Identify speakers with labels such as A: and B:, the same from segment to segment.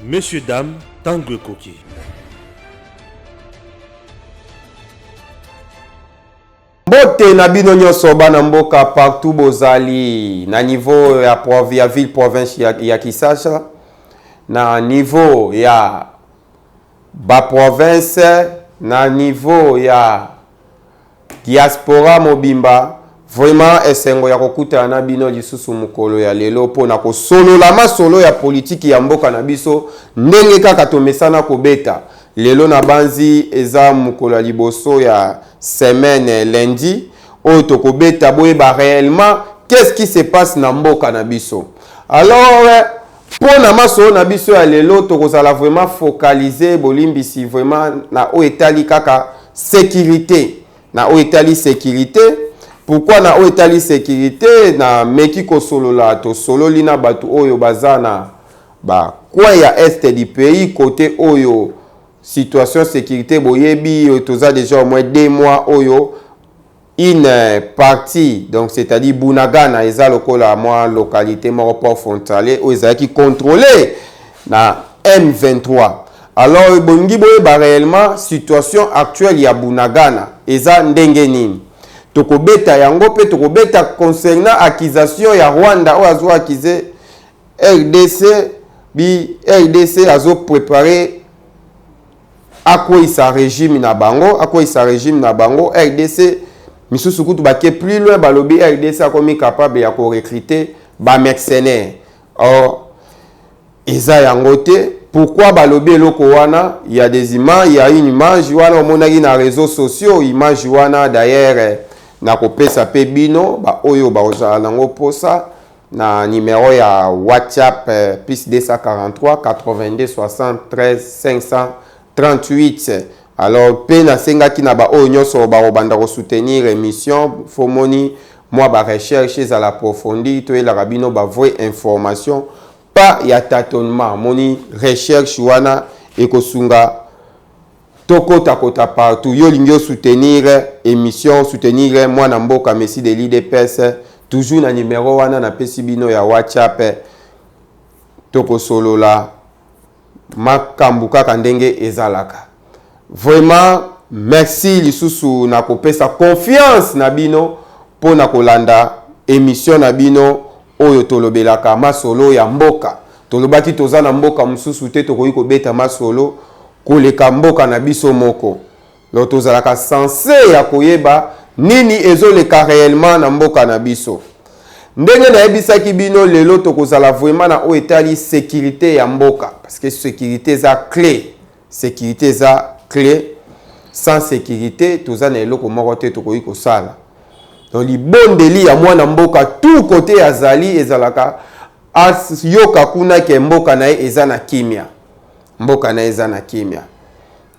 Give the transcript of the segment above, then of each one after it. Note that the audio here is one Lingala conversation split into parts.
A: Monsieur dame, tango ekoki.
B: mbote na bino nyonso bana mboka partout bozali na niveau ya, prov, ya ville province ya, ya kisasa na niveau ya baprovince na niveau ya Diaspora mobimba vraiment esengo ya kokutana na bino lisusu mokolo ya lelo mpo na kosolola masolo ya politiki ya mboka na biso ndenge kaka tomesana kobeta lelo na banzi eza mokolo ya liboso ya semaine lundi oyo tokobeta boyeba réellement qu'est-ce qui se passe na mboka na biso alors Mpo na masolo na biso ya lelo, tokozala vraiment focalise bolimbisi vraiment na oyo etali kaka securite, na oyo etali securite. Pourquoi na oyo etali securite na meki kosolola, tosololi na bato oyo baza na ba coin ya est du pays, kote oyo situation securite boyebi, toza deja au moins deux mois oyo Une partie donc c'est-à-dire Bunagana eza lokola mwa localité moko port frontalier oyo ezalaki contrôler na M23 alors ebongi boyeba réellement situation actuelle ya Bunagana eza ndenge nini tokobeta yango mpe tokobeta concernant accusation ya Rwanda oyo azo accuse RDC bi RDC azo préparer akweyisa regime na bango akweyisa regime na bango rdc misusu kutu bake plus loin balobi rdc akomi capable ya korecrute bamercenaire or eza yango te pourquoi balobi eloko wana ya des images ya une image wana omonaki na réseau sociaux image wana d'ailleurs nakopesa mpe bino baoyo bakozala nango mposa Na numero ya WhatsApp plus 243 82 alors pe na sengaki na ba oyo nionso ba kobanda ko soutenir emission fo moni mwa ba recherche ezala approfondie to yelaka bino ba vrai information pas ya tatonnement moni recherche wana ekosunga To kota kota partout yo olingi o soutenir emission o soutenir mwana mboka Messi de l'udps toujours na numero wana na pesi bino ya WhatsApp toko solola makambu kaka ndenge ezalaka vraiment merci lisusu na kopesa confiance na bino pona kolanda emission na bino Oyo tolobelaka masolo ya mboka. Tolobaki toza na mboka mosusu te tokoki kobeta masolo koleka mboka na biso moko. Donc tozalaka sense ya koyeba nini ezo leka reellement na mboka na biso. Ndenge nayebisaki bino lelo tokozala vraiment na oyo etali securite ya mboka parce que securite eza cle. Securite eza cle sans securite toza na eloko moko te tokoki kosala donc libondeli ya mwana mboka tout kote azali ezalaka ayoka kuna ke mboka na ye eza na kimya mboka na ye eza na kimya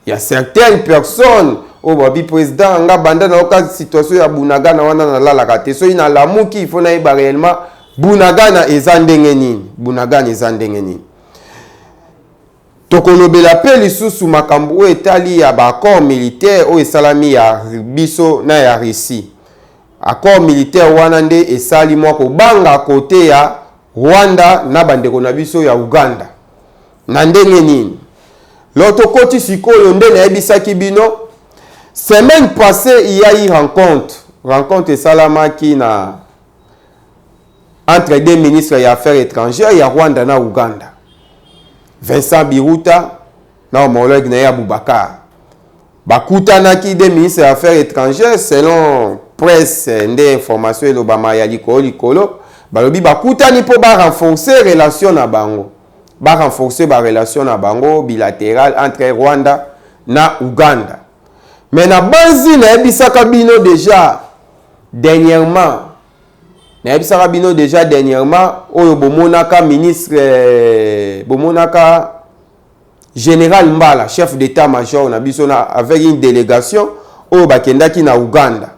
B: ya certaines personnes oyo babi président nga banda na oka situation ya bunagana wana nalalaka te soki nalamuki ifo nayeba réellement bunagana eza ndenge nini bunagana eza ndenge nini Tokolobela pe lisusu makambo oyo etali ya ba accords militaires oyo esalami ya biso na ya Russie. Accords militaires wana nde esali mwa kobanga cote ya Rwanda na ba ndeko na biso ya Ouganda. Na ndenge nini? Lors tokoti sikoyo nde nayebisaki bino, semaine passee il ya eu rencontre, rencontre esalamaki na entre deux ministres ya affaires étrangères ya Rwanda na Ouganda Vincent Biruta na homologue na ye Abubakar bakutanaki de ministre ya affaires étrangères selon presse nde information elobama ya likolo likolo balobi bakutani mpo ba renforcer relation na bango ba renforcer ba relation na bango bilaterale entre Rwanda na Ouganda mais na banzi nayebisaka bino déjà dernièrement nayebisaka bino deja dernièrement oyo bomonaka ministre euh, bomonaka général mbala chef d'état major na biso na avec une délégation oyo bakendaki na ouganda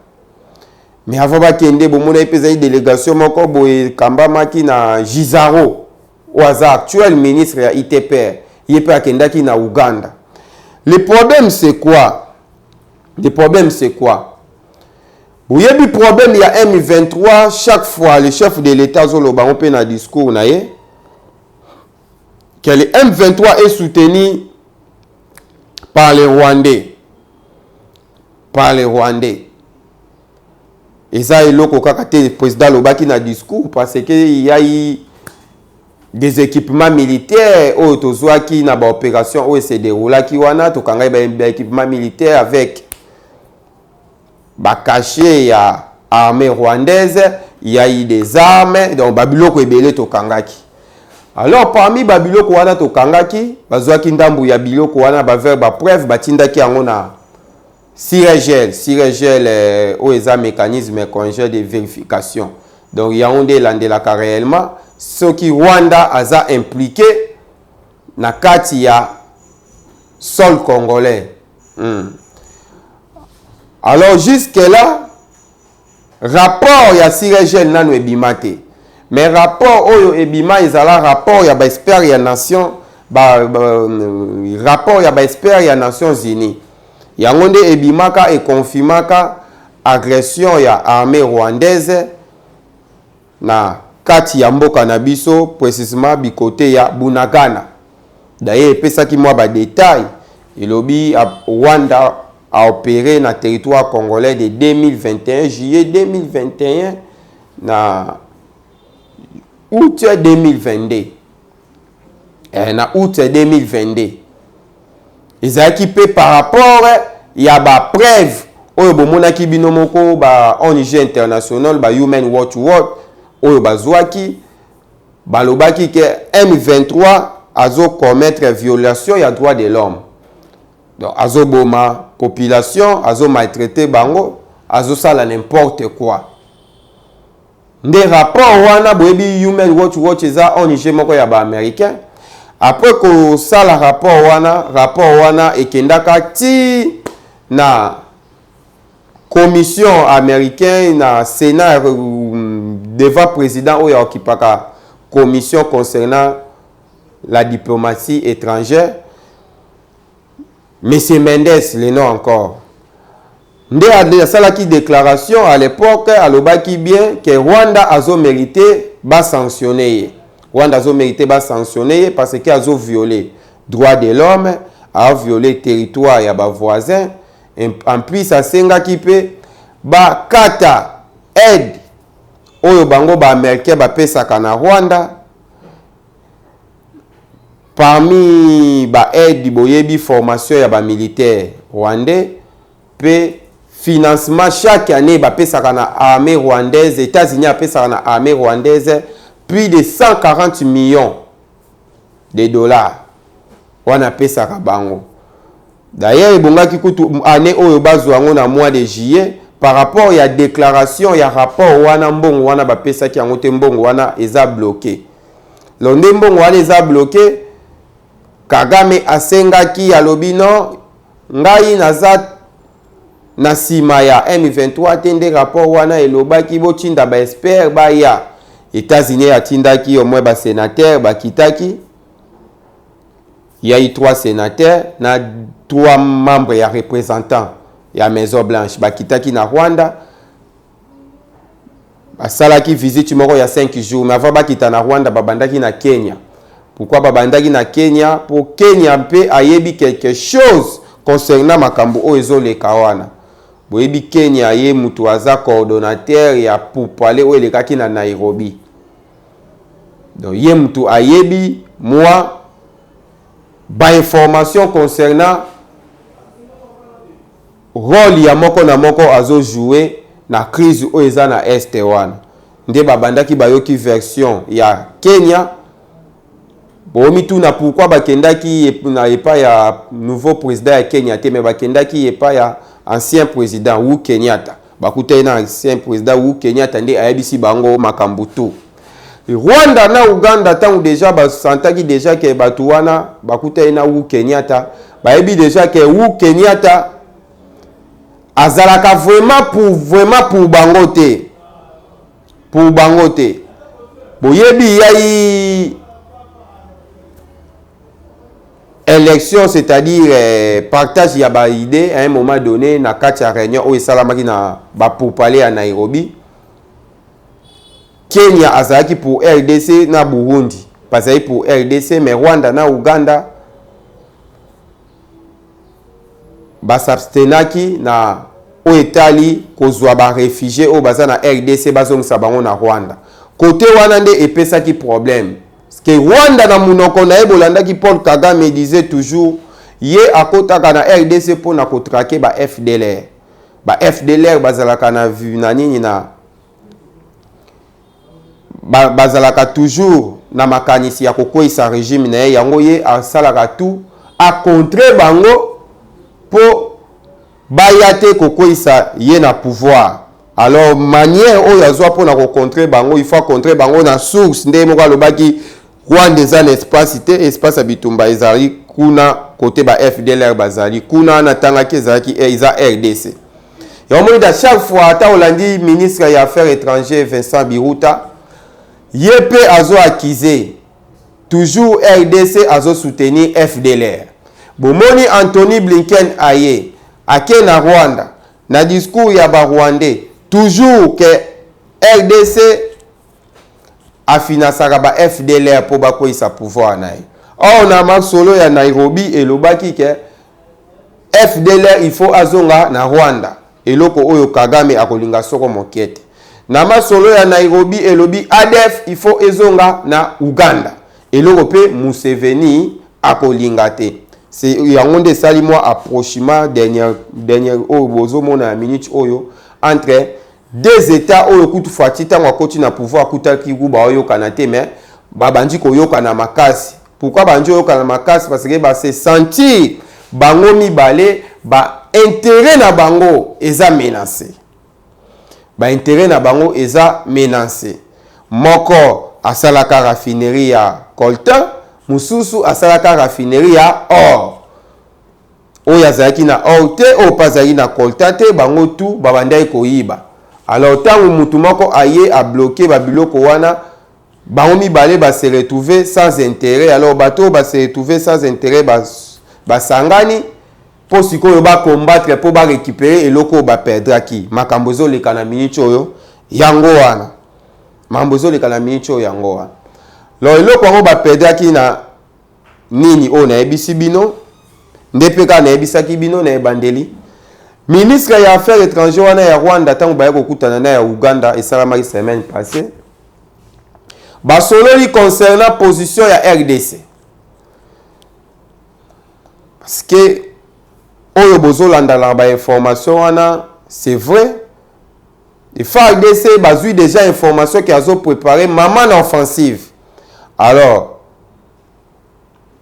B: mais avant bakende bomonaki mpe ezali délégation moko boye ekambamaki na gisaro oyo aza actuel ministre ya itpr ye mpe akendaki na ouganda le problème c'est quoi le problème c'est quoi Boyebi problème ya M23 chaque fois le chef de l'Etat azoloba yango mpe na discours na ye que le M23 est soutenu par les Rwandais par les Rwandais eza eloko kaka te président alobaki na discours parce que yai des équipements militaires oyo tozwaki na baopération oyo se déroulaki wana tokangaki baéquipement militaire avec ba cachets ya armee rwandaise ya i des armes donc ba biloko ebele tokangaki alors parmi ba biloko wana tokangaki bazwaki ndambu ya biloko wana ba vers ba preuve batindaki yango na siregel siregel euh, oyo eza mécanisme congé de vérification donc yango nde elandelaka réellement soki rwanda aza impliqué na kati ya sol congolais Hmm. Alors jusque là rapport ya Sirejel nanu ebima te. Mais rapport oyo ebima ezala rapport ya ba expert ya nation ba, ba euh, rapport ya ba expert ya Nations Unies. Yango nde ebimaka et confirmaka agression ya armée rwandaise na kati ya mboka na biso precisement bi cote ya Bunagana d'ailleurs epesaki mwa ba details elobi Rwanda a opere na territoire congolais de 2021 juillet 2021 na aout 2022 eh, na août 2022 ezalaki mpe par rapport ya bapreuve oyo bomonaki bino moko ba ONG international ba Human Watch Watch oyo bazwaki balobaki ke M23 azo commettre violation ya droit de l'homme donc azoboma population azo maltraiter bango azosala n'importe quoi Nde rapport wana boyebi Human Watch Watch eza ONG moko ya ba Americain. Après ko sala rapport wana, rapport wana ekendaka ti na commission américaine na Sénat devant président oyo akipaka commission concernant la diplomatie étrangère Monsieur Mendes le nom encore nde asalaki declaration à l'epoque alobaki bien que Rwanda azo merite ba sanctionner ye. Rwanda azo merite ba sanctionner ye parce que azo violer droit de l'homme, a violer territoire ya ba voisins. En plus asengaki pe ba kata aide oyo bango ba Americains ba pesaka na Rwanda. Parmi ba aides boyebi formation ya ba militaires rwandais pe financement chaque annee bapesaka na armee rwandaise, Etats-Unis apesaka na armee rwandaise plus de 140 millions de dollars wana apesaka bango. D'ailleurs ebongaki kutu annee oyo bazua yango na mois de juillet par rapport ya declaration ya rapport wana mbongo wana bapesaki yango te mbongo wana eza bloquer. londe mbongo wana eza bloke kagame asengaki alobi no ngai naza na nsima ya m23 te nde rapport wana elobaki botinda baexpert baya états-unis atindaki omoi basenatere bakitaki yai 3 sénateur na 3 membre ya représentant ya maison blanche bakitaki na rwanda basalaki visite moko ya 5 jours mais avant bakita na rwanda babandaki na kenya pourkui babandaki na kenya mpo kenya mpe ayebi quelque chose concernant makambo oyo ezoleka wana boyebi kenya ye moto aza coordonnateur ya pourpale oyo elekaki na nairobi donc ye moto ayebi mwa bainformation concernant Role ya moko na moko azo joue na crise oyo eza na Est wana nde ba bandaki ba yoki version ya Kenya bo mituna pourquoi ba kendaki na epa ya nouveau president ya Kenya te mais ba kendaki epa ya ancien president Uhuru Kenyatta ba kutani na ancien president Uhuru Kenyatta nde ayebisi bango makambu tout. Rwanda na Ouganda ntango deja basantaki deja ke bato wana bakutani na Wu Kenyatta, bayebi deja ke Wu Kenyatta azalaka vraiment pour vraiment pour bango te, pour bango te. Boyebi yai élection c'est-à-dire euh, partage ya ba idée à un moment donné na kati ya réunion oyo esalamaki na ba pourparlers ya Nairobi Kenya azalaki pour RDC na Burundi bazali pour RDC mais Rwanda na Uganda basabstenaki na oyo etali kozwa barefugie oyo baza na RDC bazongisa bango na Rwanda. Kote wana nde epesaki problème ke Rwanda na munoko na ye bolandaki Paul Kagame disait toujours ye akotaka na RDC mpo na kotrake ba FDLR ba fdlr bazalaka na na nini na ba, bazalaka toujours na makanisi ya kokweisa regime na ye yango ye asalaka tout acontre bango mpo baya te kokweisa ye na pouvoir alors manière oyo azwa mpo na kocontre bango il faut acontre bango na source nde moko alobaki Rwanda eza na espace te, espace ya bitumba ezali kuna kote ba FDLR bazali kuna, natangaki ezalaki eh, eza RDC. Yango moni da chaque fois ata olandi ministre ya affaires étrangères Vincent Biruta, ye mpe azo accuser toujours RDC azo soutenir FDLR. Bomoni Anthony Blinken aye ake na Rwanda na discours ya ba Rwandais toujours que RDC a financaka ba FDLR mpo bakweyisa pouvoir na ye. Or na masolo ya Nairobi elobaki ke FDLR il faut azonga na Rwanda, eloko oyo Kagame akolinga soko moke te. Na masolo ya Nairobi elobi ADF il faut ezonga na Uganda, eloko mpe Museveni akolinga te. C'est yango nde esali mwa approchement dernière dernière oyo bozomona ya minute oyo entre Deux etats oyo kutu Fatshi tango akoti na pouvoir kutu alaki ku baoyokana te mais babandi koyokana makasi. Pourquoi bandi oyokana makasi parce que ba se sentir bango mibale ba interet na bango eza menace. Ba interet na bango eza menace. Moko asalaka raffinerie ya coltan, mosusu asalaka raffinerie ya or. oyo azalaki na or te oyo mpe azalaki na colta te bango tu babandaki koyiba alors ntango motu moko aye abloke babiloko wana bango mibale base retrouve sans intérêt alors bato oyo base retrouve sans intérêt basangani bas mpo sikoyo bacombattre mpo barécupere eloko oyo baperdraki makambo ezoleka na miniti oyo yango wana makambo ezoleka na miniti oyo yango wana lo eloko yango baperdraki na nini oyo nayebisi bino nde mpe kaka nayebisaki bino na ebandeli ministre ya affaire étranger wana ya rwanda ntango baye kokutana na ya uganda esalamaki semaine passé basololi concernant position ya rdc parce que oyo bozolandalaka bainformation wana c'est vrai FARDC bazui dejà information que azo preparer maman na offensive. Alors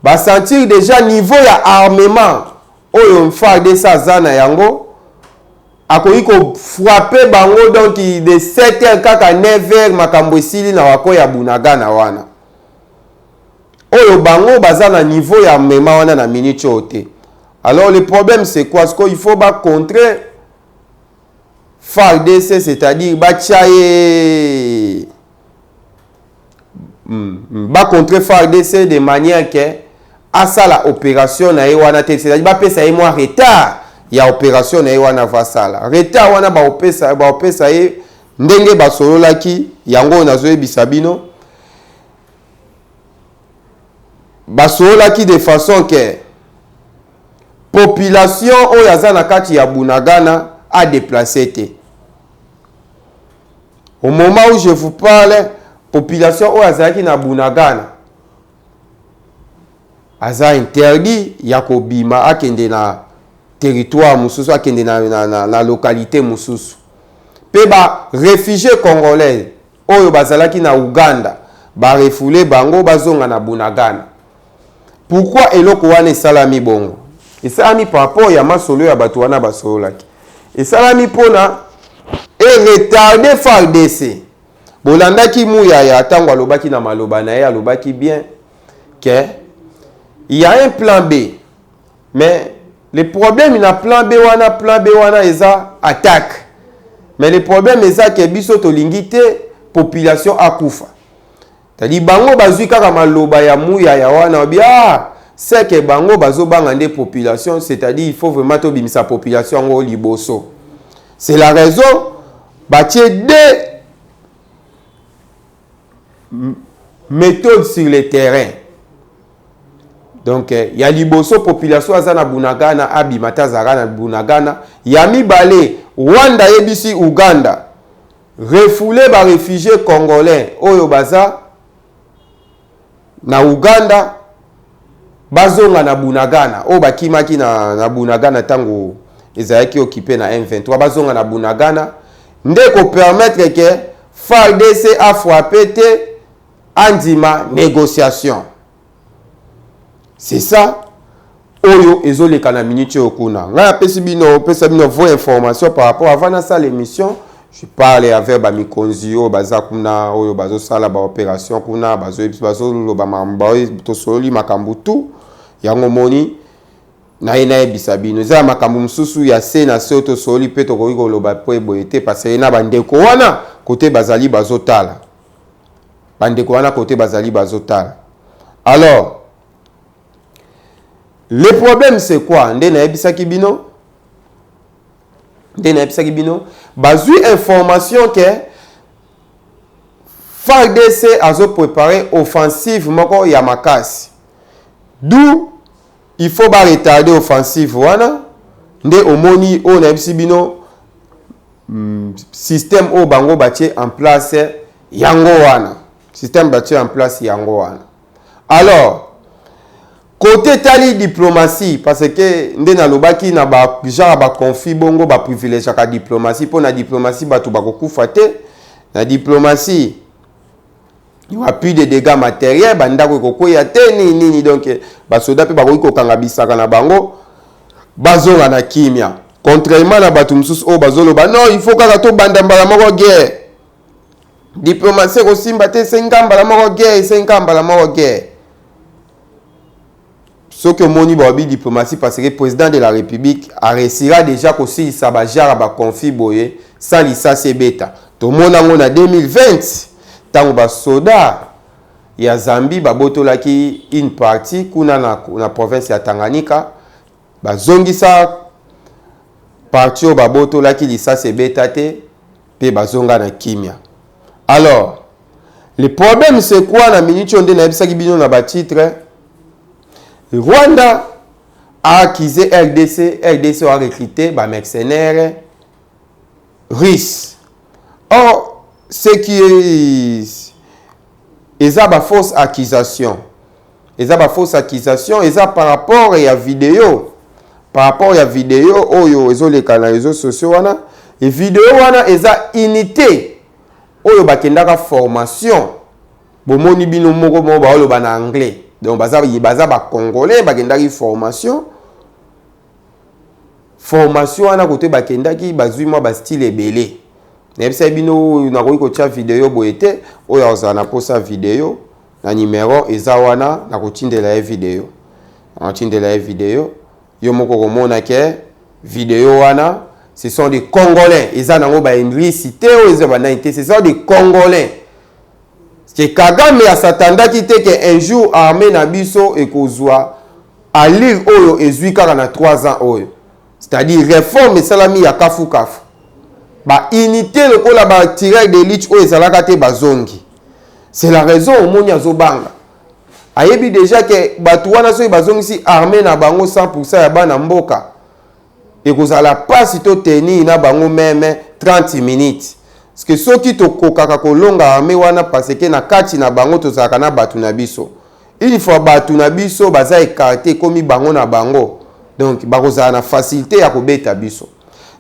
B: ba sentir dejà niveau ya armement oyo FARDC aza na yango akoki ko frapper bango donc de 7 heures kaka 9 heures makambo esili na wako ya Bunagana wana. Oyo bango baza na niveau ya armement wana na minute oyo te. Alors le problème c'est quoi? Sikoyo il faut ba contrer fardc c'est-à-dire batya ye hmm, hmm, bacontre fardc de manière ke asala opération na ye wana te c'est-à-dire bapesa ye mwa retard ya opération na ye wana avasala retard wana baopesa baopesa ye ndenge basololaki yango oyo nazoyebisa bino basololaki de façon ke Population oyo aza na kati ya Bunagana a deplacer te. Au moment où je vous parle, population oyo azalaki na Bunagana aza interdit ya kobima akende na territoire mosusu akende na, na, na, na localité mosusu mpe ba réfugié congolais Oyo bazalaki na Ouganda ba refouler bango bazonga na Bunagana. Pourquoi eloko wana esalami bongo? Esalami par rapport ya masolo ya batu wana basololaki. Esalami pona e retarder fardc. Bolandaki Muyaya tango alobaki na maloba na ye, alobaki bien que il ya un plan B. Mais le problème na plan B wana plan B wana eza attaque. Mais le problème eza ke biso tolingi te population akufa. Tadi bango bazui kaka maloba ya muya ya wana obi ah c'est que bango bazobanga nde population c'est-à-dire il faut vraiment tobimisa population yango liboso. C'est la raison batie deux methode sur le terrain donc eh, ya liboso population aza na bunagana abima te azalaka na bunagana ya mibale rwanda ayebisi uganda refoule barefugie congolais oyo baza na Ouganda bazonga na Bunagana oyo bakimaki na, na Bunagana ntango ezalaki okipe na M23 bazonga na Bunagana nde ko permettre ke FARDC a frappe te andima négociation c'est ça oyo ezoleka na minute oyo kuna ngai apesi bino opesa bino vos information par rapport avant nasala émission je parle avec bamikonzi oyo baza kuna oyo bazosala baopération kuna bazoloba tosololi makambo tout yango moni naye nayebisa bino eza ya makambo mosusu ya se na se oyo tosololi mpe tokoki koloba mpo eboye te parce ye na bandeko wana kote bazali bazotala bandeko wana kote bazali bazotala alors Le problème c'est quoi nde nayebisaki bino nde nayebisaki bino bazwi information ke fardc azoprepare offensive moko ya makasi d'où il faut baretarde offensive wana nde omoni oyo nayebisi bino mm, système oyo bango batie en place yango wana système batie en place yango wana Alors, kote etali diplomatie parce que nde nalobaki na ba genre ya baconflit bongo baprivilegiaka diplomatie mpo na diplomatie bato bakokufa te na diplomatie wapi de dégâts matériel bandako ekokweya te nini nini donc basoda mpe bakoki kokanga bisaka na bango bazonga na kimia contrairement na bato mosusu oyo bazoloba non il faut kaka tobanda mbala moko guerre diplomatie ekosimba te esengi kaka mbala moko guerre esengi kaka mbala moko guerre soki omoni baobi diplomatie parce que président de la république areussira déjà kosilisa bajara baconflit boye sans lisasi ebeta tomona yango na 2020 ntango basoda ya zambie babotolaki une partie kuna na, na province ya tanganyika Bazongisa parti oyo babotolaki lisasi ebeta te mpe bazonga na kimya. Alors, le problème c'est quoi na minute oyo nde nayebisaki bino na ba titre Rwanda a accusé RDC, RDC a recruté ba mercenaires Ris. Or ce qui est eza ba fausse accusation eza ba fausse accusation eza par rapport ya video par rapport ya video oyo ezoleka na réseaux sociaux wana e video wana eza unité oyo bakendaka formation bomoni bino moko moko baoloba na anglais donc baza, baza bacongolais bakendaki formation formation wana kote bakendaki bazwi mwa bastyle ebele nayebisaki bino nakoki kotya video boye te oyo akozala na mposa video na nimero eza wana nakotindela ye video nakotindela ye video yo moko komona ke video wana ce sont des congolais eza nango baenglisi te oyo eza banani te ce sont des congolais Ke Kagame a s'attendaki te ke un jour armee na biso ekozua allure oyo ezui kaka na 3 ans oyo. C'est-à-dire reforme esalami ya kafu kafu. Ba unites lokola ba tireurs d'elite oyo ezalaka te bazongi. C'est la raison omoni azobanga. Ayebi dejà ke bato wana soki bazongisi armee na bango 100% ya bana mboka ekozala mpasi to tenir na bango meme 30 minutes que soki tokokaka kolonga arme wana parce que na kati na bango tozalaka na bato na biso une fois bato na biso baza ekarte ekomi bango na bango donc bakozala na facilité ya kobeta biso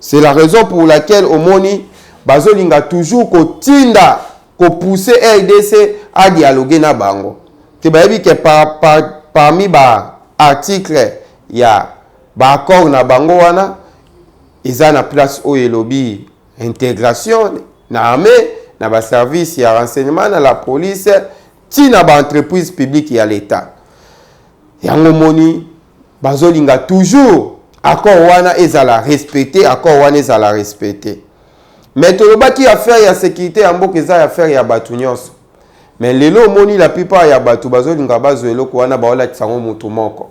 B: c'est la raison pour laquelle omoni bazolinga toujours kotinda kopousse rdc adialogue na bango te bayebi ke par, par, parmi baarticle ya Ba accord na bango wana eza na place oyo elobi integration na armee na ba service ya renseignement na la police ti na ba entreprise publique ya l'etat yango moni bazolinga toujours accord wana ezala respecte accord wana ezala respecte me tolobaki affaire ya sécurité ya mboka eza affaire ya bato nyonso me lelo omoni la plupart ya bato bazolinga bazwa eloko wana baolakisa yango moto moko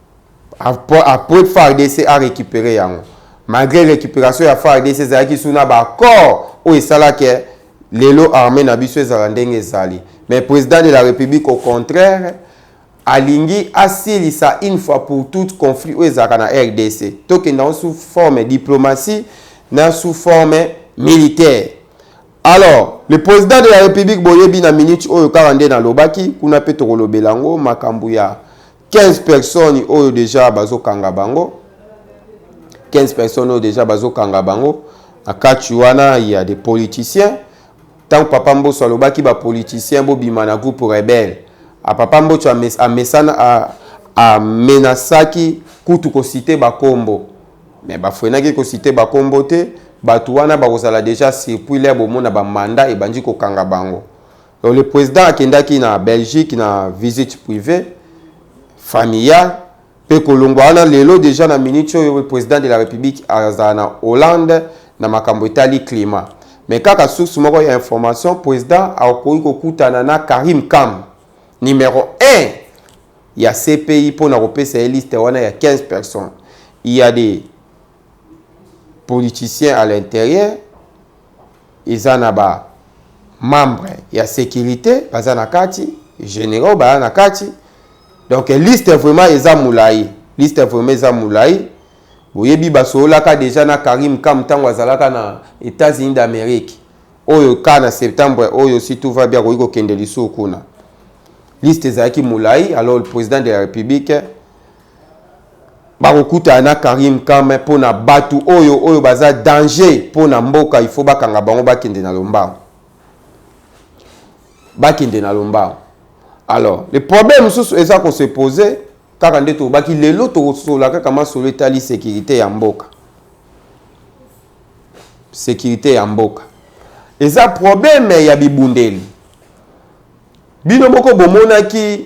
B: Apres fardc a recuperer yango malgre recuperation ya fardc ezalaki sous na ba accord oyo esala ke lelo armee na biso ezala ndenge ezali mais president de la republique au contraire alingi asilisa une fois pour toute conflit oyo ezalaka na rdc tokenda yango sous forme diplomatie na sous forme militaire alors le président de la république boyebi na minute oyo kaka nde nalobaki kuna mpe tokolobela yango makambo ya 15 personnes oyo deja bazokanga bango 15 personnes oyo deja bazokanga bango na kati wana ya des politiciens ntango papa mboso alobaki bapoliticien bobima na groupe rebelle a papa mboso amesana amenasaki kutu kosite bakombo me bafrenaki kosite bakombo te bato wana bakozala deja circuit lere bomona bamanda ebandi kokanga bango Donc le président akendaki na Belgique na visite privée familiale mpe kolongwa wana lelo deja na minute oyo le président de la république azala na Hollande na makambo etali climat mais kaka source moko ya information président akoki kokutana na Karim Kam numéro 1 ya CPI mpo na kopesa ye liste wana ya 15 personnes il y a des politiciens à l'intérieur eza na ba membre ya securite baza na kati generaux baya na kati donc liste vraiment eza mulayi liste vraiment eza mulayi boyebi basololaka deja na karim kam ntango azalaka na états-unis d'amérique oyo ka na septembre oyo si tout va bien akoki kokende lisusu kuna liste ezalaki mulayi alors le président de la république bakokutana na Karim Kame mpo na batu oyo oyo baza danger mpo na mboka il faut bakanga bango bakende na lombango bakende na lombango alors le problème mosusu eza ko se poser kaka nde tolobaki lelo tokosola kaka masolo etali sécurité ya mboka sécurité ya mboka eza problème ya bibundeli bino moko bomonaki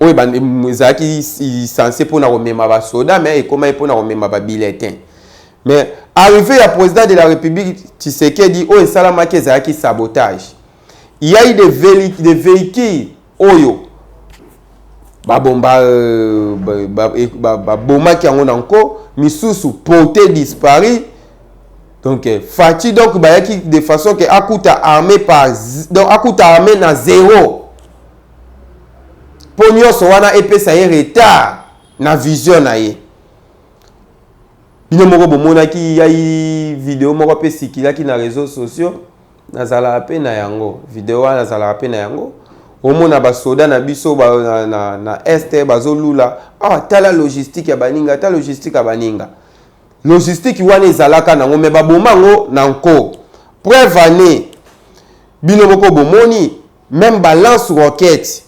B: oyo ebandi ezalaki sense mpona komema basoda mais ekomaki mpona komema babilletins mais arrive ya président de la république tshisekedi oyo esalamaki ezalaki sabotage yai de, de véhicule oyo babomba euh, babomaki ba, ba, ba, yango na nko misusu porte dispari donc euh, fati donc bayaki de façon ke akuta armé par donc akuta armé na zero mpo nyonso wana epesa ye retard na vision na ye bino moko bomonaki yai video moko mpe esikilaki na réseau sociaux nazalaka mpe na yango video wana nazalaka mpe na yango omona basoda na biso ba, na, na, na este bazolula awa ah, tala logistique ya baninga ta logistique ya baninga logistique wana ezalaka nango me baboma yango na nko preuve année bino moko bomoni Meme ba lance roquette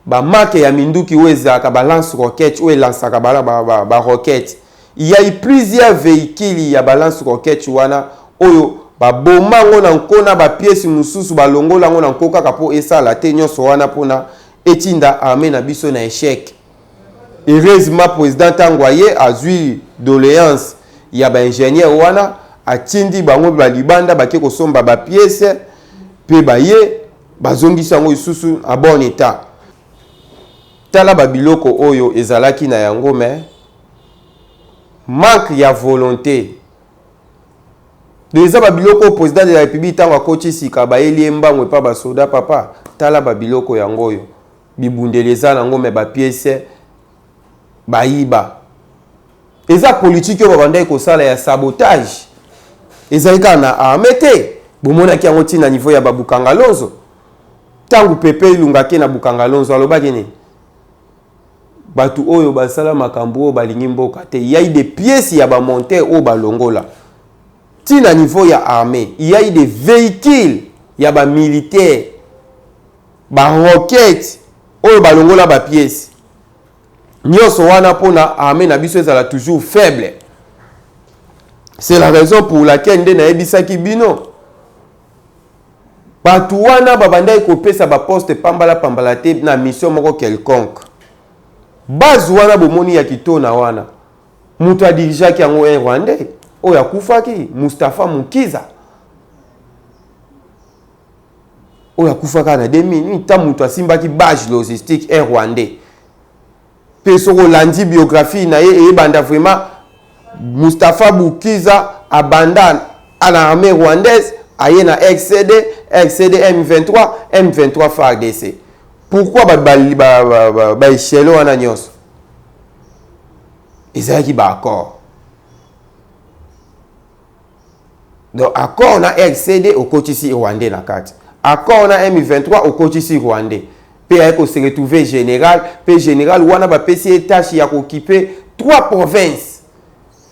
B: ba marque ya minduki oyo ezalaka ba lance roquette oyo elansaka ba, ba, ba, ba roquette il y a eu plusieurs véhicules ya ba lance roquette wana oyo baboma yango na nko na bapiesi mosusu balongola yango na nko kaka mpo esala te nyonso wana mpona etinda arme na biso na echec Heureusement president tango aye azui doleance ya ba ingenieur wana atindi bango ba libanda bake kosomba ba pièces pe baye bazongisi yango lisusu a bon etat. Tala ba biloko oyo ezalaki na yango mais manque ya volonte donc eza ba biloko oyo president de la republique tango akoti sika bayeli ye mbangu epa ba soda papa tala ba biloko yango oyo Bibundeli eza na ngo mais ba pièces bayiba. Eza politique oyo babandaki kosala ya sabotage. Ezali kaka na armée te. Bomonaki yango ti na niveau ya ba Bukangalonzo. Tango Pepe Ilunga ake na Bukangalonzo alobaki nini? Batu oyo basala makambo oyo balingi mboka te. Il y a eu des pièces ya ba monteurs oyo balongola. Ti na niveau ya armée, il y a eu des vehicules ya ba militaires Ba roquettes oyo balongola ba pièces. Nionso wana pona armee na biso ezala toujours faible. C'est la raison pour laquelle nde nayebisaki bino bato wana babandaki kopesa baposte pambala pambala te na mission moko quelconque base wana bomoni ya kitona wana moto adirigeaki yango un rwandais oyo akufaki mustapha mukiza oyo akufa kaka na 2000 nta moto asimbaki bage logistique un rwandais mpe soki olandi biographie na ye eyebanda vraiment mustapha bukiza abanda na armée rwandaise aye na rcd rcd m23 m23 fardc pourquoi baechelle ba, ba, ba, ba wana nyonso ezalaki baaccord donc accord na rcd okotisi rwandais na kati accord na m23 okotisi rwandais mpe aye kose retrouve général mpe général wana bapesi ye tâche ya kokipe trois provinces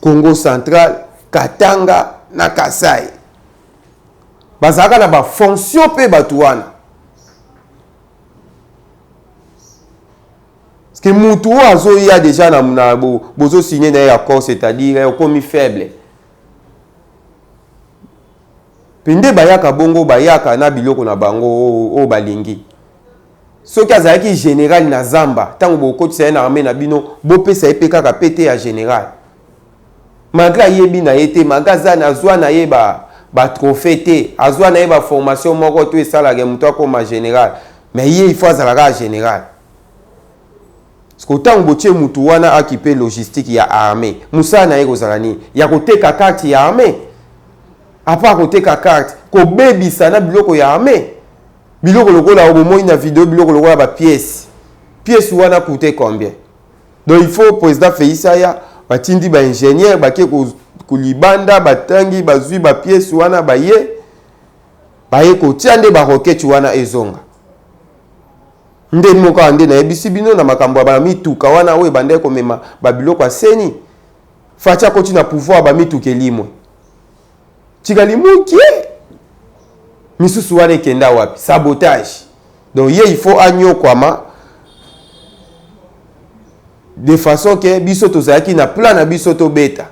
B: congo central katanga na kasai bazalaka na bafonction mpe bato wana Ske mutu oyo azoya deja na, na bo, bozo signe na ye accord c'est-à-dire eh, okomi faible mpe nde bayaka bongo bayaka na biloko na bango oyo oh, oh, balingi soki azalaki général na zamba ntango bokotisa ye na armée na bino bopesa ye mpe kaka pete ya général Malgre ayebi na ye te, malgre aza azwa na ye ba ba trophee te, azwa na ye ba formation moko to esalaka ye moto akoma general, mais ye il faut azala kaka general. Sikoyo ntango botie motu wana akipe logistique ya armee, mosala na ye ekozala nini? Ya koteka carte ya armee? Apart koteka carte, kobebisa na biloko ya armee? Biloko lokola oyo bomoni na video, biloko lokola ba pièces, pièce wana coute combien? donc il faut président feisi aya batindi baingénieur bake kolibanda batangi bazwi bapiese wana baye baye kotia nde baroketi wana ezonga nde moko awa nde nayebisi bino na makambo ya bamituka wana oyo ebandaki komema babiloko ya seni faci akoti na pouvoir bamituka elimwe tikali mukie misusu wana ekenda wapi sabotage donc ye il faut anyokwama de façon ke biso tozalaki na plan na biso tobeta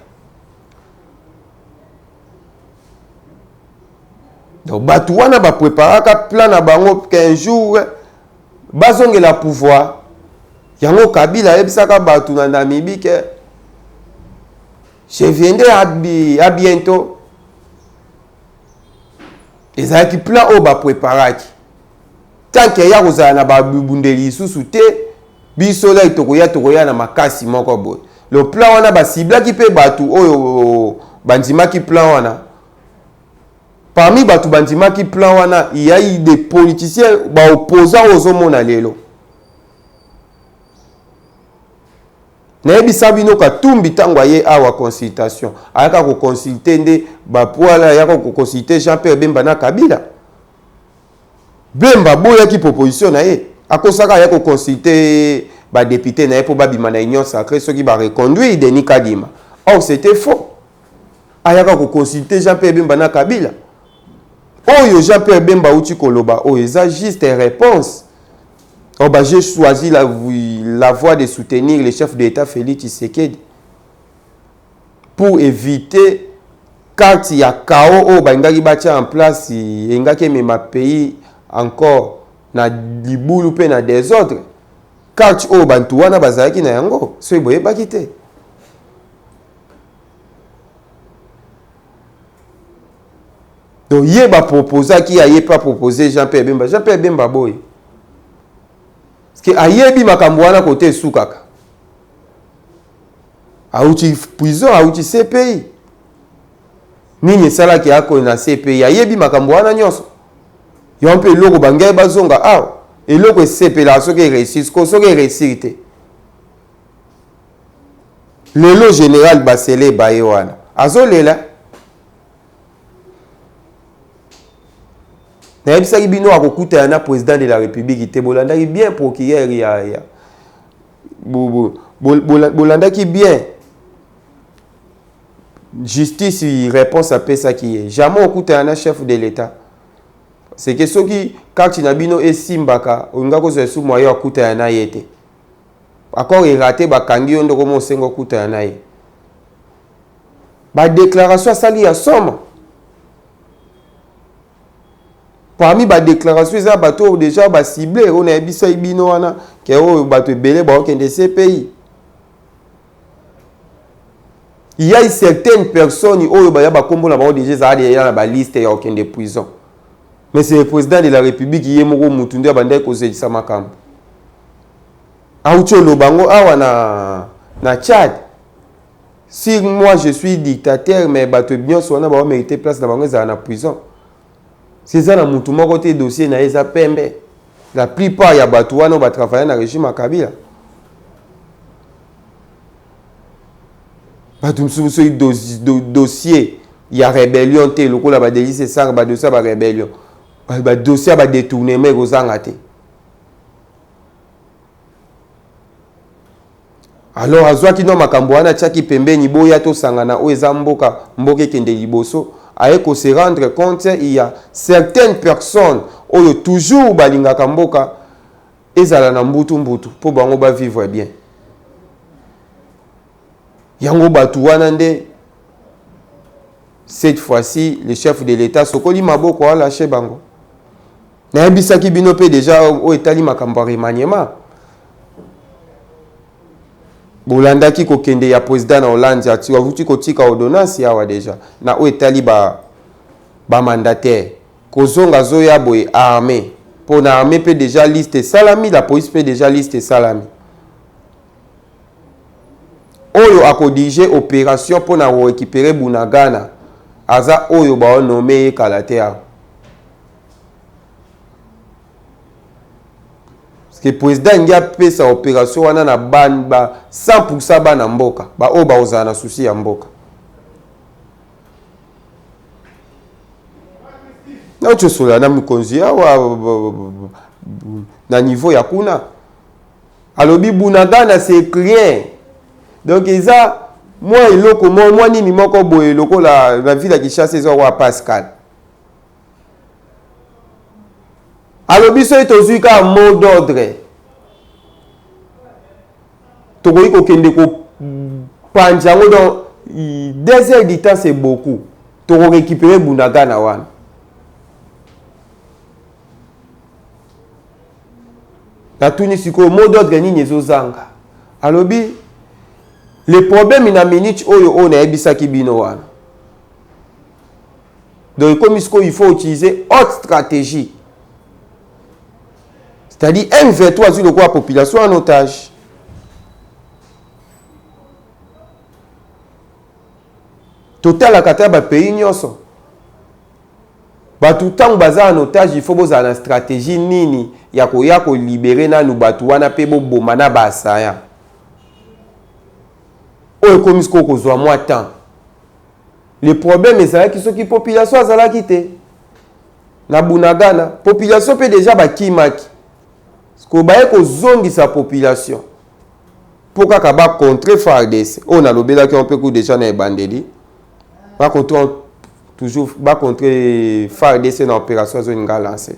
B: donc bato wana bapreparaka plan na bango qu'un jour bazongela pouvoir yango kabila ayebisaka bato na namibi ke Je viendrai à, à bientôt. ezalaki plan oyo bapreparaki tanke ya kozala na babundeli lisusu te biso lai tokoya tokoya na makasi moko boye le plan wana basiblaki mpe bato oyo bandimaki plan wana parmi bato bandimaki plan wana yai des politiciens baopposant oyo ozomona lelo Nayebisa bino Katumbi tango aye awa consultation ayaka ko consulter nde ba poila ayaka ko consulter Jean Pierre Bemba na Kabila Bemba aboyaki proposition na ye akosaka aya ko consulter ba depute na ye mpo babima na union sacrée soki ba reconduire Denis Kadima or c'était faux ayaka ko consulter Jean Pierre Bemba na Kabila oyo Jean Pierre Bemba auti koloba oyo eza juste réponse Oh bah j'ai choisi la, la voie de soutenir le chef de l'État Félix Tshisekedi pour éviter carte ya chaos oyo balingaki batya en place elingaki emema pays encore na libulu mpe na desordre carte oyo bantu wana bazalaki na yango soki boyebaki te Donc ye ba proposaki ya ye pe a proposer Jean Pierre Bemba. Jean Pierre Bemba boye. Parce que ayebi makambo wana kote esukaka. Auti prison, auti CPI. Nini esalaki ako na CPI? Ayebi makambo wana nyonso. Yo mpe eloko bangai bazonga awa. Eloko esepelaka soki eresisi ko soki eresiri te. Lelo general basele baye wana azolela nayebisaki bino akokutana na president de la republique te bolandaki bien procureur ya, ya bolandaki bien justice réponse apesaki ye jamais okutana na chef de l'etat seke soki kati na bino esimbaka olinga kozwa esu mwayo akutana na ye te Accord e rate ba kangi yo nde okomi osenga okutana na ye. Ba declaration asali ya somo. Parmi ba declaration eza bato oyo deja ba cible oyo nayebisaki bino wana ke oyo bato ebele baokende CPI. Il y a certaines personnes oyo baya ba kombo na bango deja ezala deja na ba liste ya okende prison. Mais c'est le president de la republique ye moko mutu nde abandaki kozekisa makambo. Auti oloba yango awa na, na Tchad. Si moi je suis dictateur, mais bato bionso wana bao merite place na bango ezala na prison. Si eza na mutu moko te dossier na ye eza pembe. La plupart ya bato wana ba travailler na regime ya Kabila. Bato misusu soki dossier, do, dossier ya rebellion te lokola ba Denis Esanga ba dossier ya ba rebellion. Ba dossier ya ba détournement ekozanga te. alors azwaki no makambo wana atiaki pembeni boya tosangana oyo eza mboka mboka ekende liboso aye ko se rendre compte il y a certaines personnes oyo toujours balingaka mboka ezala na mbutu mbutu mpo bango ba vivre bien yango bato wana nde cette fois-ci le chef de l'état sokoli maboko alache bango nayebisaki bino mpe deja oyo etali makambo ya remaniema bolandaki kokende ya president na hollande avuti kotika ordonnance yawa deja na oyo etali ba bamandataire kozonga azoya boye arme mpo na arme mpe deja liste esalami la police mpe deja liste esalami oyo akodirige opération mpo na korekipere bunagana aza oyo baonome ye kala te awa ke president alingi apesa operation wana na ba 100 bana mboka baoyo bakozala na susi ya mboka naocosola na mikonzi awa na niveau ya kuna alobi bunagana c'est rien donc eza mwa eloko mwa nini moko boye lokola na ville ya kinshasa eza kwa pascal alobi soki tozwi kaka mot d'ordre tokoki kokende kopanza yango donc deux heures du temps c'est beaucoup tokorekipere bunagana wana natuni sikoyo mot d'ordre nini ezozanga alobi le problème na minute oyo oyo nayebisaki bino wana donc ekomi sikoyo il faut utiliser haute stratégie c'est-à-dire m23 azwi lokola population en otage totalaka ata bapays nyonso bato ntango baza en otage il faut bozala na stratégie nini ya koya kolibere nanu bato wana mpe boboma na baasaya oyo ekomi sikoyo kozwa mwa temps Le problème ezalaki soki population azalaki te na Bunagana, population mpe deja bakimaki, sikoyo baye kozongisa population mpo kaka ba contre FARDC oyo nalobelaki yango mpe ku deja na ebandeli ba contre toujours ba contre FARDC na opération zone nga lancé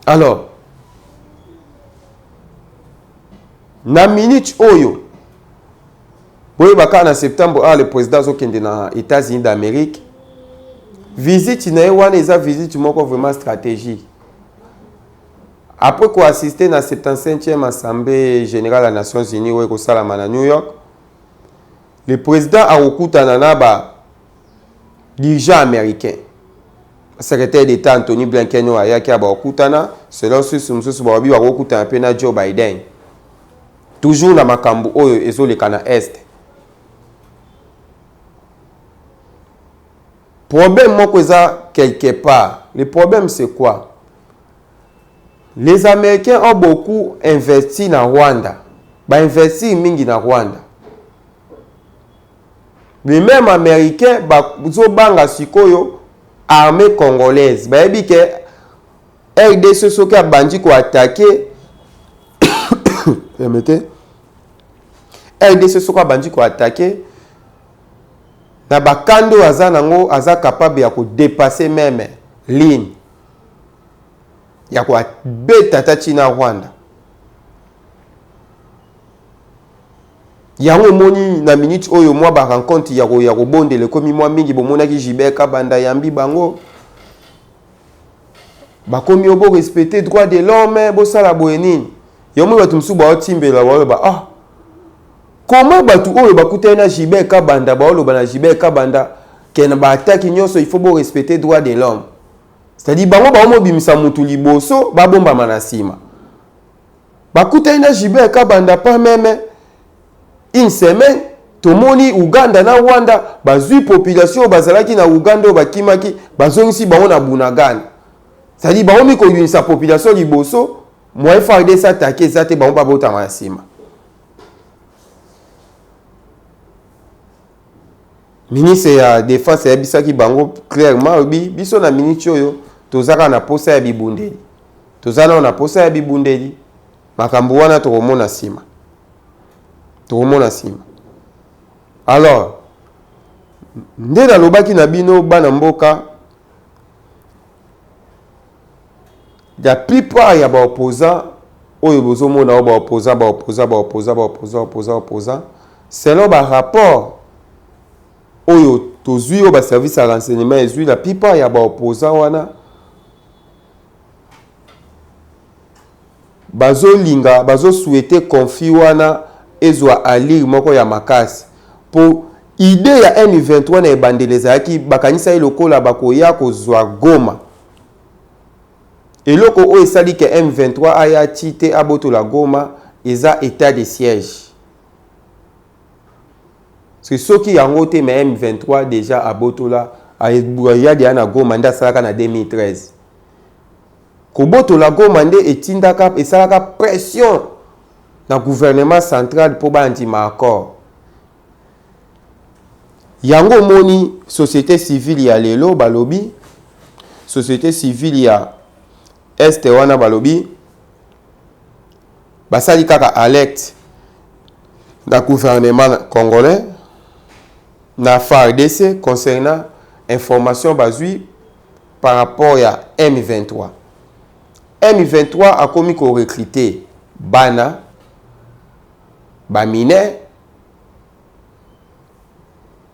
B: alors na minute oyo Boyeba kaka na septembre awa le president azokende na Etats-Unis d'Amerique, visite na ye wana eza visite moko vraiment stratégie. Après koassiste na 75e assemblée générale ya Nations Unies oyo ekosalama na New York, le president akokutana na ba dirigeants américains. Secrétaire d'État Anthony Blinken oyo ayaki abakokutana, selon source mosusu balobi bakokutana mpe na Joe Biden. Toujours na makambu oyo ezo leka na Est. Problème moko eza quelque part. Le problème c'est quoi? Les Américains ont beaucoup investi na Rwanda. Ba investir mingi na Rwanda. Les mêmes Américains bazo banga sikoyo armée congolaise. Bayebi ke rdc soki abandi ko attaquer permettez rdc soki abandi ko attaquer na bakando oyo aza nango aza capable ya kodepase meme ligne ya kobeta ata ntina rwanda yango omoni na minute oyo mwa barencontre ya kobondela ekomi mwa mingi bomonaki jibeka banda yambi bango Bakomi yo bo respecter droit de l'homme, bosala boye nini? Yo omoni bato mosusu baotimbela baoloba ah comment bato oyo bakutani na Gilbert Kabanda baoloba na Gilbert Kabanda ke na ba attaque nyonso il faut bo respecter droit de l'homme. C'est-à-dire bango baomobimisa motu liboso babombama na nsima. Bakutani na Gilbert Kabanda pas meme Une semaine tomoni Ouganda na Rwanda bazui population oyo bazalaki na Ouganda oyo bakimaki bazongisi bango na Bunagana. C'est-à-dire bango mi koyunisa population liboso moyen FARDC attaque eza te bango babotama na nsima. ministre ya defense ayebisaki bango clairement alobi biso na miniti oyo tozaka na posa ya bibundeli toza nao na posa ya bibundeli Makambo wana tokomona nsima, tokomona nsima. Alors nde nalobaki na bino bana mboka, la plupart ya ba opposants oyo bozomona oyo ba opposants ba opposants ba opposants ba opposants opposants opposants selon ba rapport oyo tozwi oyo ba service ya renseignement ezwi la plupart ya ba opposants wana Bazo linga bazo souhaite conflit wana ezua allure moko ya makasi po idee ya M23 na ebandeli ezalaki bakanisaki lokola bakoya kozua Goma. Eloko oyo esali que M23 aya ti te abotola Goma eza etat de siège. Parce soki yango te mais M23 déjà abotola ayadi ya na Goma nde asalaka na 2013. Kobotola Goma nde etindaka esalaka pression na gouvernement central mpo bandima accord. Yango omoni société civile ya lelo balobi société civile ya Est wana balobi basali kaka alerte na gouvernement congolais na FARDC concernant information bazui par rapport ya M23. M23 akomi ko recruter bana ba mineurs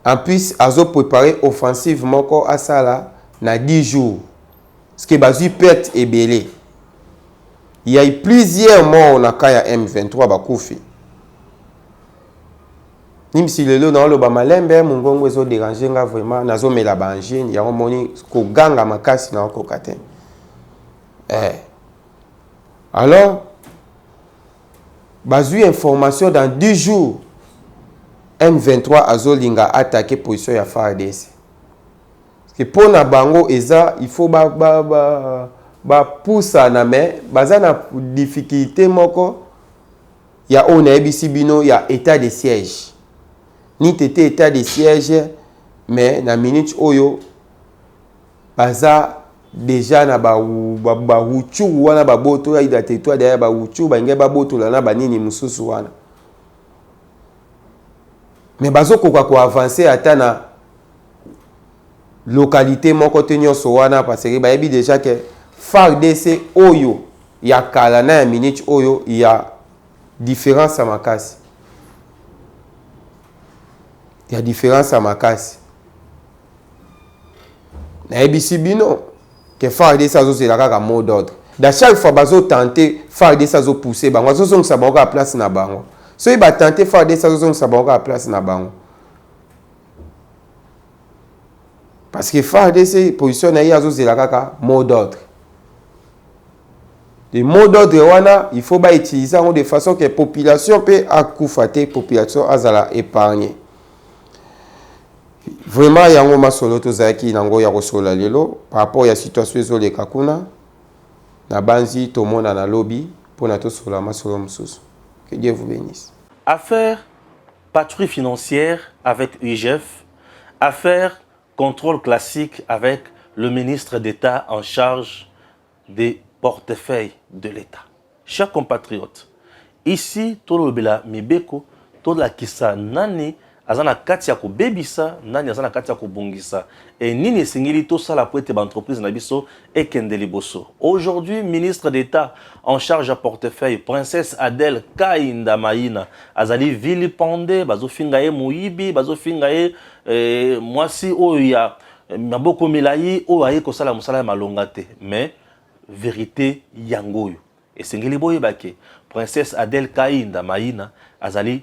B: en plus azo preparer offensive moko asala na 10 jours Parce que bazui perte ebele. Il y a eu plusieurs morts na cas ya M23 bakufi. Nimsi lelo na oloba malembe mungongo ezo déranger nga vraiment nazo mela ba angine yango moni koganga makasi na okoka te. Eh. Alors bazui information dans 10 jours M23 azolinga attaquer position ya FARDC. Que pona bango eza il faut ba ba ba ba pusana mais baza na difficulte moko ya oyo nayebisi bino ya etat de siège ni tete etat de siège mais na minute oyo baza deja na ba ba ba wuchuru wana ba boto ya ida tetwa daya ba wuchuru ba ngai ba boto la na ba nini mususu wana mais bazo koka ko avancer ata na localite moko te nyonso wana parce que bayebi deja ke fardc oyo ya kala na ya minute oyo ya différence ya makasi ya différence ya makasi nayebisi bino ke fardc azozela kaka mot d'ordre da chaque fois bazotante fardc azopousse bango azozongisa bango kaka place na bango soki batante fardc azozongisa bango kaka place na bango parce que fardc position na ye azozela kaka mot d'ordre le mot d'ordre wana il faut bautilise yango de façon que population mpe akufa te population azala épargne vraiment yango masolo tozalaki nango ya kosolola lelo par rapport ya situation ezoleka kuna nabanzi tomonana lobi mpo na tosolola masolo mosusu que dieu vous bénisse affaire
A: Patrouille financière avec UIGF, affaire contrôle classique avec le ministre d'État en charge des portefeuilles de l'État. Chers compatriotes, ici tolobela mibeko tolakisa nani aza na kati ya kobebisa nani aza na kati ya kobongisa e nini esengeli tosala mpo ete baentreprise na biso ekende liboso. Aujourd'hui, ministre d'Etat en charge ya portefeuille, princesse Adèle Kainda Maina, azali vilipende, bazofinga ye moyibi, bazofinga ye eh, mwasi oyo ya eh, maboko milai oyo aye kosala mosala ya malonga te. Mais verite yango oyo esengeli boyeba ke princesse Adèle Kainda Maina azali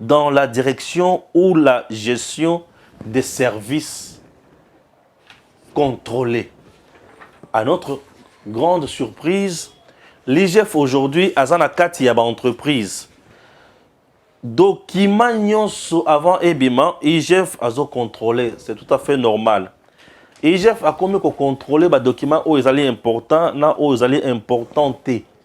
A: dans la direction ou la gestion des services contrôlés. À notre grande surprise, l'IGF aujourd'hui a na kati ya ba entreprise. Document nyonso avant ebima, IGF azo contrôler, c'est tout à fait normal. IGF akomi ko contrôler ba documents oyo ezali important na oyo ezali important te.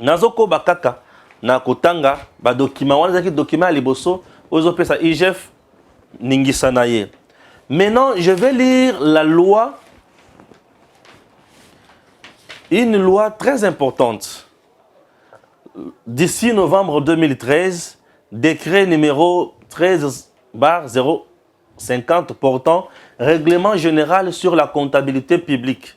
A: nazokoba kaka na kotanga badokima wana ezalaki dokima ya liboso oyo ezopesa igf ningisa na ye maintenant je vais lire la loi une loi très importante d'ici novembre 2013 décret numéro 13 bar 050 portant règlement général sur la comptabilité publique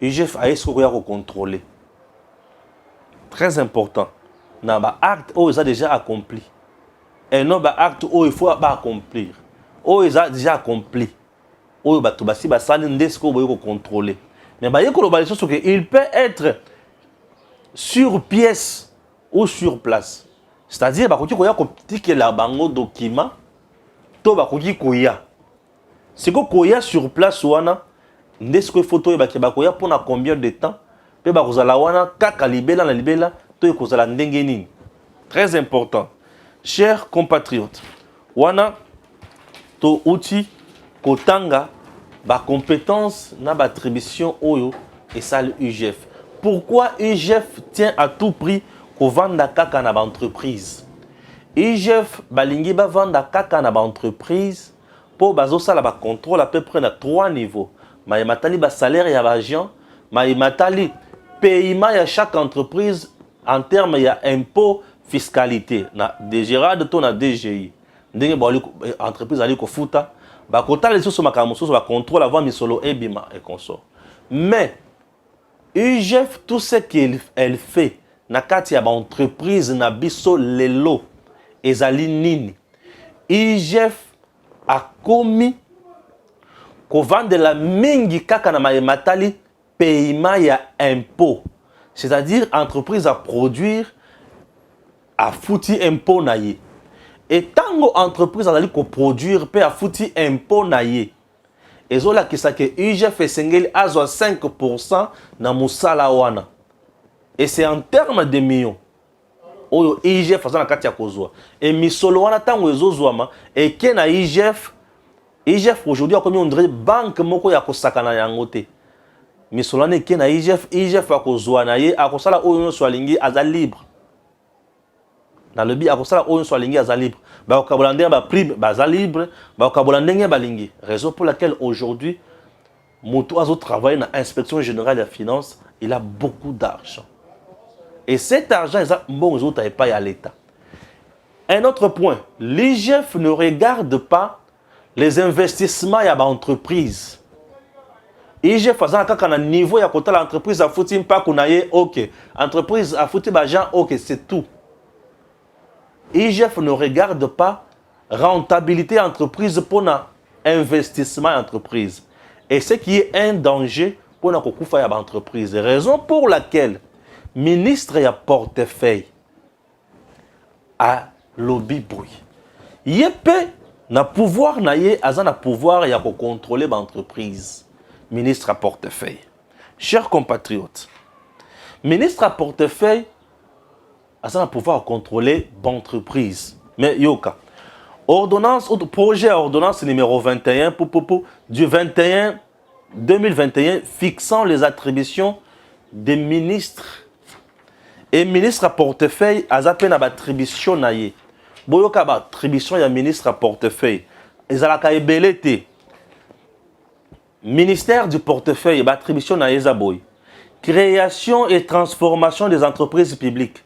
A: IGF aye soki okoya ko contrôler très important na ba acte oyo eza déjà accompli et non ba acte oyo il faut ba accomplir oyo eza déjà accompli oyo bato basi basali nde sikoyo boye kocontrôle mais baye koloba lisusu ke il peut être sur pièce ou sur place c'est-à-dire bakoki koya kotikela bango document to bakoki koya siko koya sur place wana nde siko ifo toyeba ke bakoya mpona combien de temps mpe bakozala wana kaka libela na libela to ekozala ndenge nini très important cher compatriote wana touti kotanga bacompétence na baattribution oyo esali ugf pourquoi ugf tient à tout prix kovanda kaka na baentreprise ugf balingi bavanda kaka na baentreprise po bazo sala ba controle à peu près na trois niveaux maye matali ba salaire ya ba agents maye matali paiement ya chaque entreprise en terme ya impôt fiscalité na DGRAD to na DGI ndenge ba eh, entreprise ali kofuta bakotala lisusu makambo mosusu bacontrole avant misolo ebima et consort mais IGF tout ce qu'elle fait na kati ya ba entreprise na biso lelo ezali nini? IGF akomi kovandela mingi kaka na maye matali paiement ya impôt c'est-à-dire entreprise a produire afuti impôt na ye etango entreprise azali koproduire mpe afuti impôt na ye ezolakisa ke UGF esengeli azwa 5% na mosala wana et c'est en terme de millions oyo IGF aza na kati ya kozwa et misolo wana ntango ezozwama eke na IGF IGF aujourd'hui akomi ondire banque moko ya kosakana yango te misolo wana eke na IGF IGF akozwa na ye akosala oyo nyonso alingi aza libre nalobi akosala oyo nyonso alingi aza libre bakokabola ndenge ba prime baza libre bakokabola ndenge balingi raison pour laquelle aujourd'hui moto azo travailler na inspection générale ya finance il a beaucoup d'argent et cet argent eza mbongo ezouta epai ya l'état un autre point l'igf ne regarde pas les investissements ya ba entreprises IGF azala kaka na niveau ya kotala entreprise afuti mpaku na ye ok entreprise afuti baagent ok c'est tout IGF ne regarde pas rentabilité ya entreprise mpona investissement ya entreprise et ce qui est un danger mpona kokufa ya baentreprise raison pour laquelle ministre ya portefeuille alobi boye ye mpe na pouvoir na ye aza na pouvoir ya kocontrole baentreprise ministre ya portefeuille cher compatriote ministre ya portefeuille aza na pouvoir ya controle baentreprise mais yoka ordonnance projet ya ordonnance numéro 21 pupupu du 21 2021 fixant les attributions des ministres et ministre à portefeuille aza mpe na batribution na ye boyoka batribution ya ministre à portefeuille ezalaka ebele te ministère du portefeuille batribution na ye eza boye création et transformation des entreprises publiques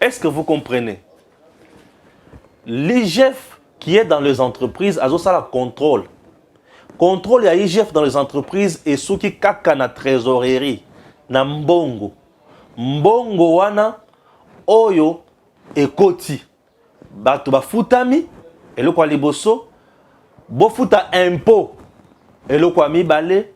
A: Est ce que vous comprenez? L'IGF qui est dans les entreprises a ça la contrôle. Contrôle ya IGF dans les entreprises et sous qui kaka na trésorerie na mbongo. Mbongo wana oyo ekoti bato bafutami eloko ya liboso bofuta impôt eloko ya mibale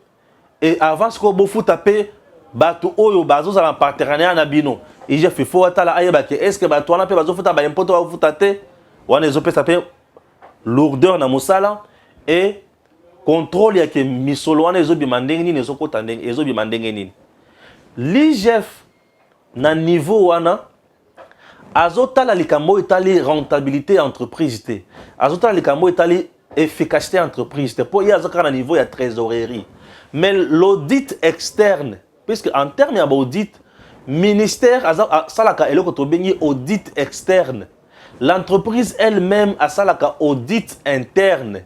A: et avant sikoyo bofuta mpe bato oyo bazozala na partenariat na bino igf il faut atala ayeba ke est ce que bato wana mpe bazofuta baimpo to bakofuta te wana ezopesa mpe lourdeur na mosala e contrôle yake misolo wana ezobima ndenge nini ezokota ndenge ezobima ndenge nini l'igf na niveau wana azotala likambo oyo etali rentabilité ya entreprise te azotala likambo oyo etali efficacité ya entreprise te mpo ye aza kaka na niveau ya trésorerie mais l'audit externe puisque en terme ya baudit ministère asalaka eloko tobengi audit externe l'entreprise elle-même asalaka audit interne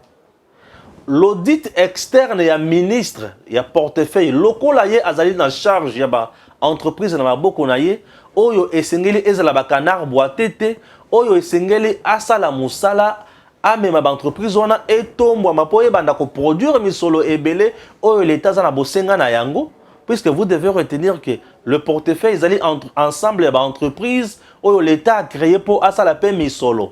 A: L'audit externe ya ministre ya portefeuille lokola ye azali na charge ya ba entreprises na maboko na ye, oyo esengeli ezala ba canards boites te, oyo esengeli asala mosala amema ba entreprises wana etombwama mpo ebanda ko produire misolo ebele oyo l'Etat aza na bosenga na yango, puisque vous devez retenir que le portefeuille ezali ensemble ya ba entreprises oyo l'Etat a creer mpo asala mpe misolo.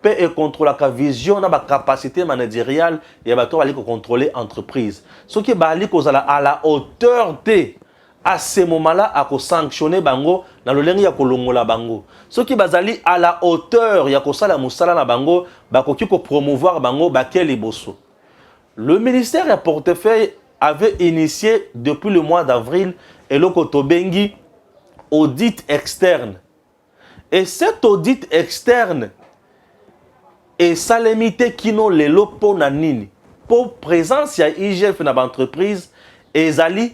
A: mpe ekontrolaka vision na bacapacité manageriale ya bato bazali kokontrole entreprise soki bazali kozala à la hauteur te à ce moment-là akosanctionne bango na lolenge ya kolongola bango soki bazali à la hauteur ya kosala mosala na bango bakoki kopromouvoir bango bake liboso le ministère ya portefeuille avait initié depuis le mois d'avril eloko tobengi audit externe Et cet audit externe esalemi te kino lelo mpo na nini? Mpo presence ya IGF na baentreprise ezali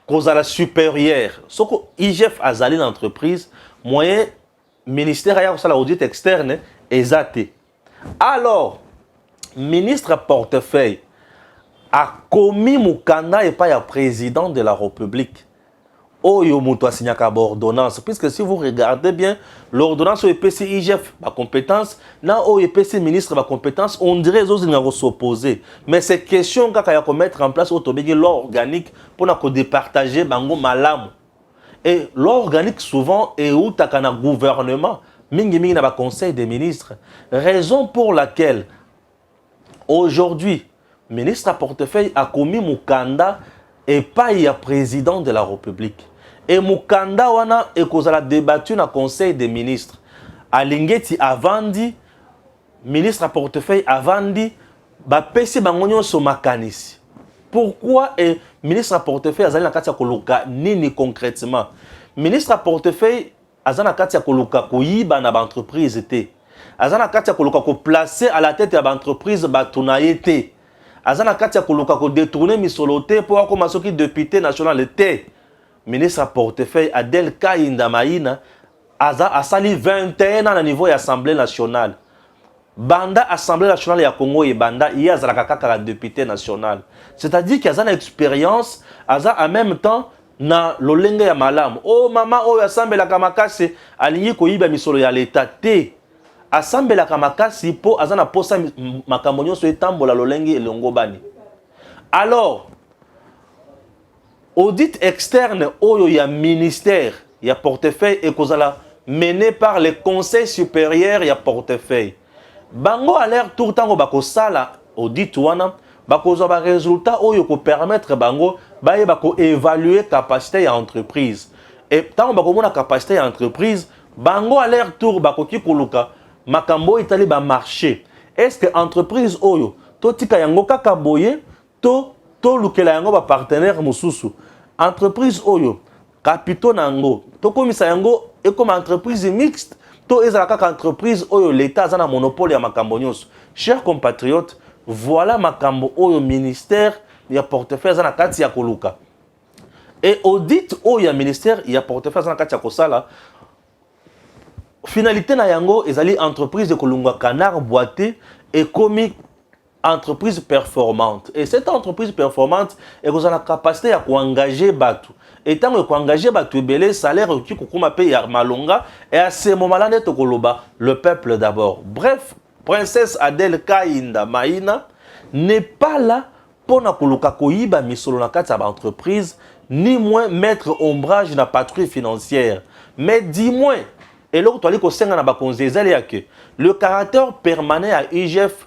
A: kozala superieur. Soki IGF azali na entreprise, moyen ministère aya kosala audit externe eza te. Alors, ministre à portefeuille a commis mukanda et pas à président de la République. Oyo mutu asignaka ordonnance puisque si vous regardez bien l'ordonnance oyo epesi IGF ba compétence na oyo epesi ministre ba compétence on dirait ezozinga s'opposer mais c'est question kaka ya mettre en place oyo tobengi loi organique mpona kodepartage bango malamu et loi organique souvent eutaka na gouvernement mingimingi na baconseil des ministres raison pour laquelle aujourd'hui ministre ya portefeuille akomi mokanda epai ya président de la république e mokanda wana ekozala debattu na conseil des ministres alingeti avandi ministre ya portefeuille avandi bapesi bango nyonso makanisi pourquoi e ministre ya portefeuille azali na kati ya koluka nini concrètement ministre ya portefeuille aza na kati ya koluka koyiba na baentreprise te aza na kati ya koluka koplace à la tete ya baentreprise bato na ye te aza na kati ya koluka kodetourne misolo te mpo akoma soki depute national te ministre ya portefeuille adel kainda maina aza asali 21 ans na niveau ya assemblée nationale banda assemblée nationale ya congo ebanda ye azalaka kaka député national c'est-à-dire que aza na expérience aza en même temps na lolenge ya malamu o oh, mama oyo asambelaka makasi alingi koyiba misolo ya leta te asambelaka makasi mpo aza na mposa makambo nyonso etambola lolenge elongobani alors Audit externe oyo ya ministère ya portefeuille ekozala mené par le conseil supérieur ya portefeuille. Bango à leur tour tango bakosala audit wana bakozwa ba resultats oyo ko permettre bango bayeba ko evaluer capacité ya entreprise. Et tango bakomona capacité ya entreprise, bango à leur tour bakoki koluka makambo oyo etali ba marchés. Est-ce que entreprise oyo totika yango kaka boye to tolukela yango bapartenere mosusu entreprise oyo kapito na yango tokomisa yango ekoma entreprise mixte to ezala kaka entreprise oyo leta aza na monopole ya makambo nyonso cher compatriote voilà makambo oyo ministère ya portefeuille aza na kati ya koluka e audit oyo ya ministère ya portefeuille aza na kati ya kosala finalité na yango ezali entreprise ekolongwa canard boite ekomi entreprise performante et cette entreprise performante ekozala na capacité ya koengage bato e ntango ekoengage bato ebele salaire ekoki kokoma mpe ya malonga e à ce moment là nde tokoloba le peuple d'abord bref princesse adele kainda maina n'est pas là mpo na koluka koyiba misolo na kati ya baentreprise ni moins mettre ombrage na patrouille financière mais du moins eloko toali kosenga na bakonzi ezali ya que le caractère permanent ya igf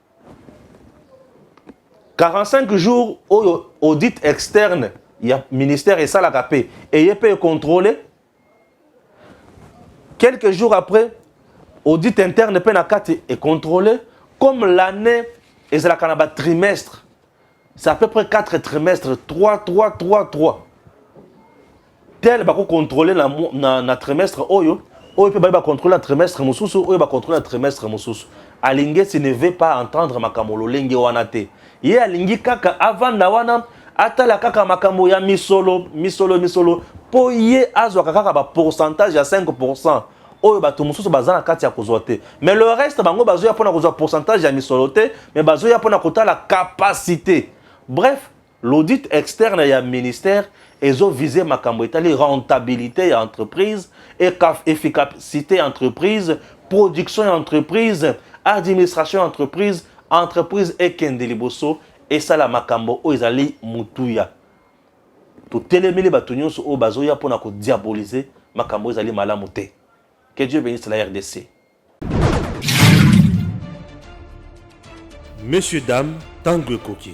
A: 45 jours oyo audit externe ya ministère esalaka mpe eye mpe econtrôle quelques jours après audit interne mpe na kati econtrôle comme l'année ezalaka na batrimestre c'est à peu près 4 trimestres 3 3 3 3 tel bako contrôler na, na, na trimestre oyo oyo mpe baye bacontrôle na trimestre mosusu oyo bacontrôle na trimestre mosusu alingesi ne veut pas entendre makambo lolenge wana te ye alingi kaka avanda wana atala kaka makambo ya misolo misolo misolo mpo ye azwaka kaka bapourcentage ya 5 oyo bato mosusu baza na kati ya kozwa te mais le reste bango bazoya mpona kozwa pourcentage ya misolo te mais bazoya mpona kotala capacité bref l'audit externe ya ministère ezovise makambo etali rentabilité ya entreprise efficacité ya entreprise production ya entreprise administration ya entreprise entreprise ekende liboso esala makambo oyo ezali motuya totelemeli bato nyonso oyo bazoya mpo na kodiabolize makambo ezali malamu te que dieu benisse la rdc
C: monsieur dame ntango ekoki